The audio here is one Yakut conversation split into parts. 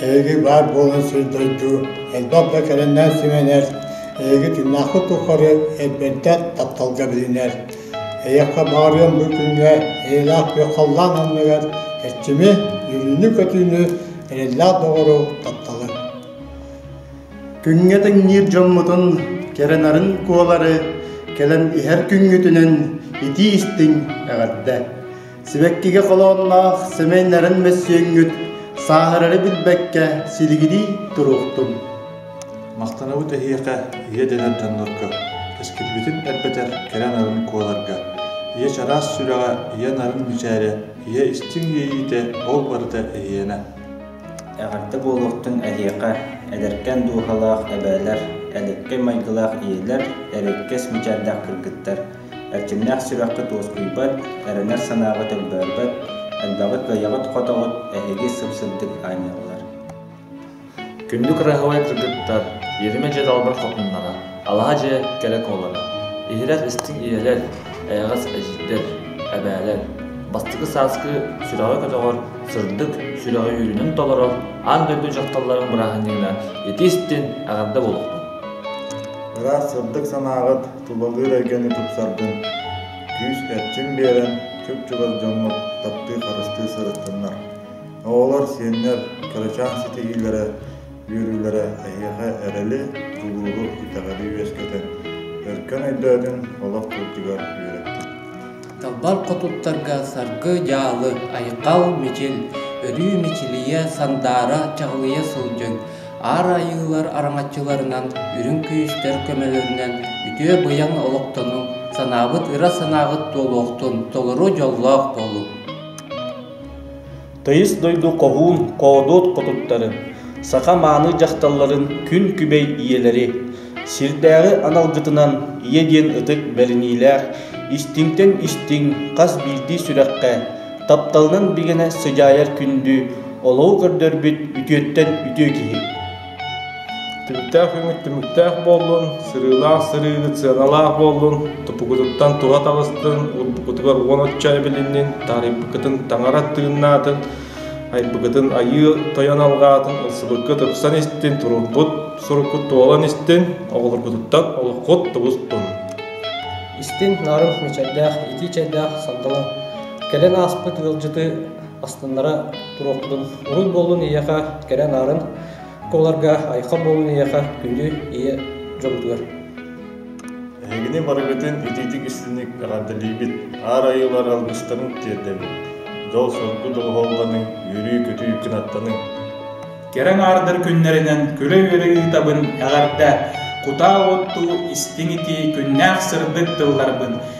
Эһиги баар буолан сылдьар дуу, элбэх да кэлэннээн симэнэр, эһиги тыыннаахпыт тухары эрбэнтэх тапталга билинэр. Эйиэхэ баарыам бу күҥҥэ эйэлээх күөх-халлаан анныгар эрчими, үөрүүнү-көтүүнү, эрэллээх доҕору, тапталы. Күҥҥэ тэҥниир дьоммутун кэрэнарын куолары кэлэн иһэр күҥҥүтүнэн итии-истиҥ эҕэрдэ! Сибэккигэ холоонноох сэмэй нарын мөссүөҥҥүт сааһырары билбэккэ силигилии туруохтун! Махтанабыт эһиэхэ, ийэ дэнэр дьоннорго, кэскилбитин элбэтэр кэрэ нарын куоларга, ийэ чараас сүрэҕэ, ийэ нарын мичээрэ, ийэ истиҥ иэйиитэ, ол барыта эһиэнэ! Эҕэрдэ буолуохтун эһиэхэ, эдэркээн дууһалаах эбээлэр, элэккэй майгылаах ийэлэр, эрэйкэс мичээрдээх кыргыттар, эрчимнээх сүрэххит уоскуйбат, эрэнэр санааҕыт өлбөөрбөт, элбэҕи кыайаҕыт-хотоҕут эһиги сып-сырдык аанньаллар. Күндү кыраһыабай кыргыттар, Иэримэ дьэ далбар хотуннара! Алаһа дьиэ кэрэ куолана, иһирэр истиҥ ийэлэр, эйэҕэс эдьиийдэр, эбээлэр. Бастакы сааскы сүрэҕэ-көтөҕөр, сырдык, сүрэҕэ үөрүүнэн толорор аан дойду дьахталларын бырааһынньыгына ити истин эҕэрдэ буолуохтун. Ыраас сырдык санааҕыт тулалыыр эйгэни тупсаргын, күүс эрчим биэрэн чуп-чугас дьоҥҥу таптыы-харыстыы сырыттыннар. Оҕолор, сиэннэр, кырачаан ситиһиилэрэ үөрүүлэрэ эһиэхэ эрэли, кулууһу итэҕэли үөскэтэн, өркөн өйдөөтүн олох бултугар үөрэттин. Талбар хотуттарга Саргы Дьаалы, Айхал Мичил, өрүү мичилийэ, сандаара чаҕылыйа сылдьыҥ, Аар Айыылар араҥаччыларынан үрүҥ күyүстэр көмөлөрүнэн үтүө быйаҥ олохтонуҥ, санаабыт ыра санаабыт туолуохтун, толору дьоллоох буолуҥ! Тыйыс дойду хоһуун хоодуот хотуттарын, саха мааны дьахталларын күн күбэй ийэлэри, сирдээҕи аналгытынан ийэ диэн ытык бэриниилээх истиҥтэн истиҥ хас биирдии сүрэххэ, тапталынан бигэнэ сыдьаайар күндү, олоҕу көрдөрбүт үтүөттэн үтүө киһи. Түмүктээх үүммүт түмүктээх буоллун, сырыылаах сырыыгыт сыаналаах буоллун, тупугутуттан туһа таҕыстын, урбукутугар уон отча эбилиннин, таарыйбыккытын таҥара тыыннаатын, айбыкытын айыы тойон алҕаатын, ылсыбыккыт ыксан истин, турурбут суруккут туолан истин, оҕолоргутуттан олоххут тубустун. Истин нарын мичайдаах, итии чайдаах сандала, кэлэн ааспыт ыалдьыты астыннара туруохпутун уруй буоллун ийэхэ кэрэ анаарын куларга айха буолун ийэхэ күндү ийэ дьолутугар Эһигини барыгытын итиитик истиник эҕэрдэлиибит аар айылар алгыстарын тиэрдэбит дьол-соргу доҕоһоллоныҥ үөрүү-көтүү кынаттаныҥ кэрэ аҥаардар күннэринэн күлэ-үөрэ ыытабын эҕэрдэ кутаа оттуу истиҥ итии күннээх сырдык тылларбын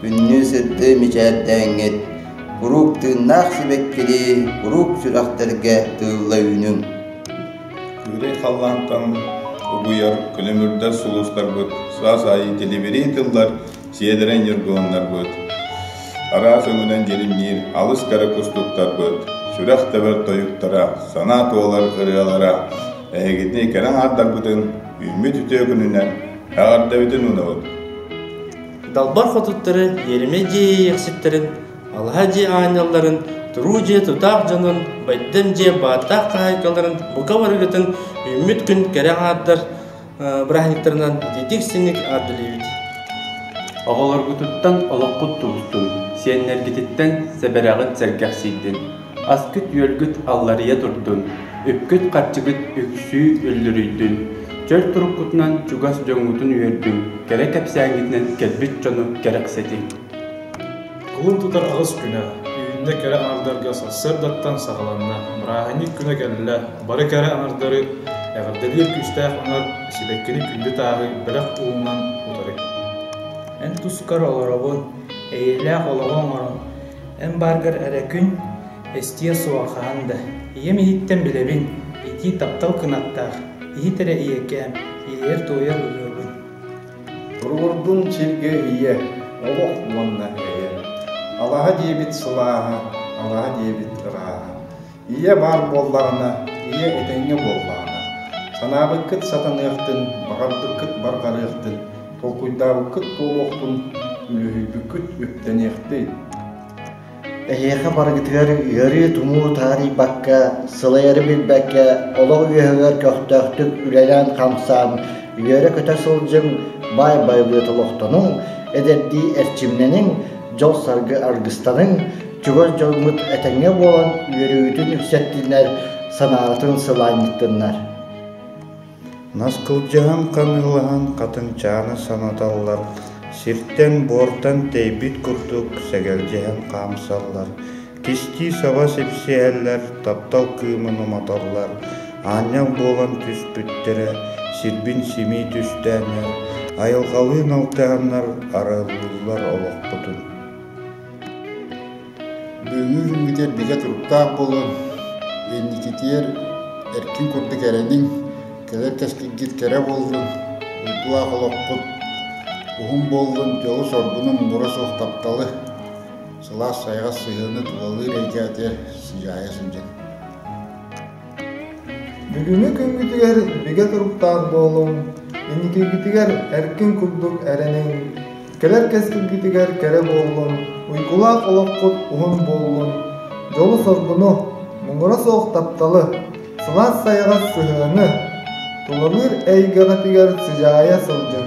Күннүү сырды мичээрдээҥҥит, куруук тыыннаах сибэккилии куруук сүрэхтэргэ тыылла үүнүҥ! Күрэй халлаантан угуйар көлөмүрдэр сулустарбыт, саас аайы тилибирии тыллар, сиэдэрэй ньургуһуннарбыт, араас өҥүнэн дьиримниир алыс кэрэ кустуктарбыт, сүрэх тэбэр тойуктара, санаа туолар ырыалара эһигитини кэрэ аҥаардарбытын үүммүт үтүө күнүнэн эҕэрдэбитин уунабыт! Далбар хотуттары Иэримэй дьиэ иэйэхситтэрин, алаһа дьиэ аанньалларын, туруу дьиэ тутаах дьонун, байдам дьиэ бааттаах хаһаайкаларын бука барыгытын үүммүт күн кэрэ аҥаардар бырааһынньыктарынан итиитик-сиҥник аардылыыбыт. Оҕолоргутуттан олоххут тустун, сиэннэргититтэн сэбэрэҕит сэргэхсийдин. Аскыт-үөлгүт алларыйа турдун, үпкүт-харчыгыт үксүү үллүрүйдүн, чөл туруккутунан чугас дьоҥҥутун үөрдүҥ, кэрэ кэпсээҥҥитинэн кэлбит дьону кэрэхсэтиҥ. Кылын тутар аҕыс күнэ Үүннэ кэрэ аҥардарга сарсыардаттан саҕаланна. Бырааһынньык күнэ кэллэ. Бары кэрэ аҥардары эҕэрдэлиир күүстээх аҥар сибэккини күндү тааһы бэлэх уунунан утары. Эн тускар олоробун, эйэлээх олоҕу оҥорон, Эн бааргар эрэ күн эстиэ суоҕа хаһан да. Ийэм иһиттэн билэбин, итии таптал кынаттаах, иһит эрэ ийэкээм, иэйэр-туойар ырыабын. Туруордун сиргэ ийэ, олох уонна эйэ. Алаһа диэбит сылааһа, алаһа диэбит ырааһа. Ийэ баар буоллаҕына, ийэ этэҥҥэ буоллаҕына, санаабыккыт сатаныахтын, баҕарбыккыт барҕарыахтын, толкуйдаабыккыт туолуохтун, үлүһүйбүккүт үктэниэхтин. Эһиэхэ барыгытыгар ыарыы-тумуу таарыйбакка, сылайары билбэккэ, олох үөһүгэр көхтөөхтүк үлэлээн-хамсаан, үөрэ-көтө сылдьыҥ, баай байылыат олохтонуҥ, эдэрдии эрчимнэниҥ, дьол-саргы аргыстаныҥ, чугас дьоҥҥут этэҥҥэ буолан үөрүүгүтүн үксэттиннэр, санаҕытын сылаанньыттыннар. Нас кылдьаһан ханыылаһан хатынчааны санаталлар, сиртэн буортан тэйбит курдук сэгэлдьиһэн хаамсаллар, кистии саба сипсиһэллэр, таптал кыымын уматаллар, аанньал буолан түспүттэрэ сирбин симии түстээннэр, айылҕалыын алтыһаннар араллыыллар олохпутун. Быыһыыр үүтэр бигэ туруктаах буолан, инникитиэр эркин курдук эрэниҥ, кэлэр кэскилгит кэрэ буоллун, уйгулаах олоххут уһун буоллун, дьолу-соргуну муҥура суох тапталы, сылаас-сайҕас сыһыаны тулалыыр эйгэ атыгар сыдьаайа сылдьыҥ. Бүгүҥҥү күммүтүгэр бигэ туруктаах буолуҥ, инникигитигэр эркин курдук эрэниҥ, кэлэр кэскилгитигэр кэрэ буоллун, уйгулаах олоххут уһун буоллун, дьолу-соргуну, муҥура суох тапталы, сылаас-сайаҕас сыһыаны, тулалыыр эйгэҕитигэр сыдьаайа сылдьын.